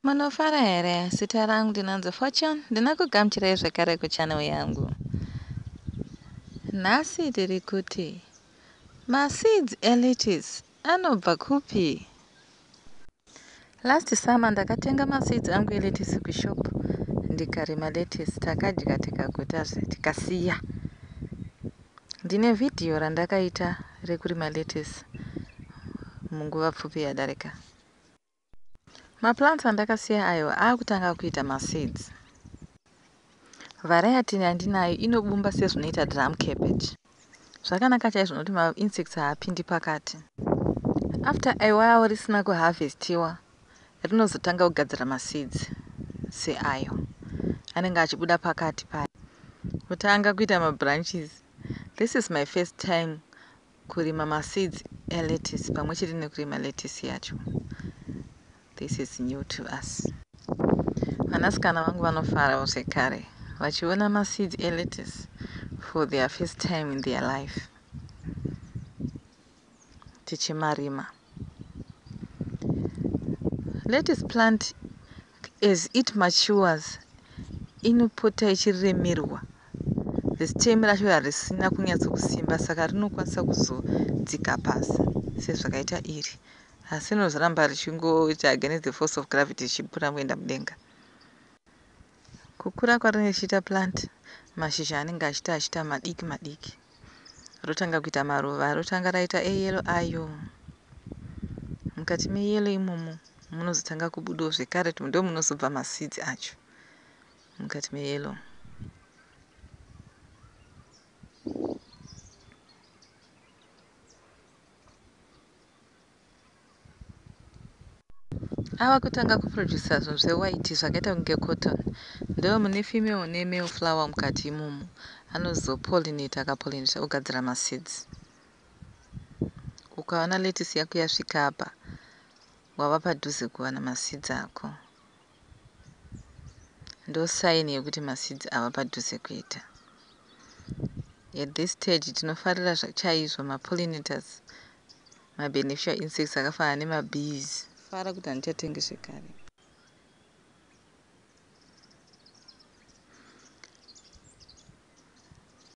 Munofara here? Zita rangu ndinonzi Fortune, ndinokugamuchirai zvekare kuchannel yangu. Nhasi tiri kuti maseeds elettuce anobva kupi? Last summer ndakatenga maseeds angu elettuce kushop ndikarima lettuce takadya tikaguta zve tikasiya. Ndine video randakaita rekurima lettuce munguva pfupi yadarika. Maplants andakasiya ayo akutanga kuita maseeds. Variety yandinayo inobumba sezvinoita drum cabbage. Zvakanaka chaizvo nokuti mainsects haapindi pakati. After a while risina kuharvestiwa rinozotanga kugadzira maseeds seayo anenge achibuda pakati payo kutanga kuita mabranches. This is my first time Kurima ma seeds e lettuce pamwe chete nekurima lettuce yacho this is new to us. Vanasikana vangu vanofarawo zvekare vachiona ma seeds e lettuce for their first time in their life tichimarima. let us plant as it matures inopota ichiremerwa the stem racho harisina kunyatsokusimba saka rinokwanisa kuzodzika pasi sezvakaita iri asi rinozoramba richingoita against the force of gravity richibura kuenda mudenga Kukura kwarinenge richiita plant mashizha anenge achiita achiita madiki madiki rotanga kuita maruva rotanga raita eyellow ayo mukati meyellow imomo munozotanga kubudawo zvekare ndo munozobva maseeds acho mukati meyellow Ava kutanga kuproducer zvinhu zvewhite zvakaita kunge cotton ndiwo mune female nemale flower mukati imomo anozopollinate akapollinate ogadzira maseeds. Ukaona lettuce yako yasvika apa wava padhuze kuwana maseeds ako. Ndo sign yekuti ma seeds ava padhuze kuita. At this stage tinofarira chaizvo ma pollinators, ma beneficial insects akafanana nema bees. Fara kuti handichatengi zvekare.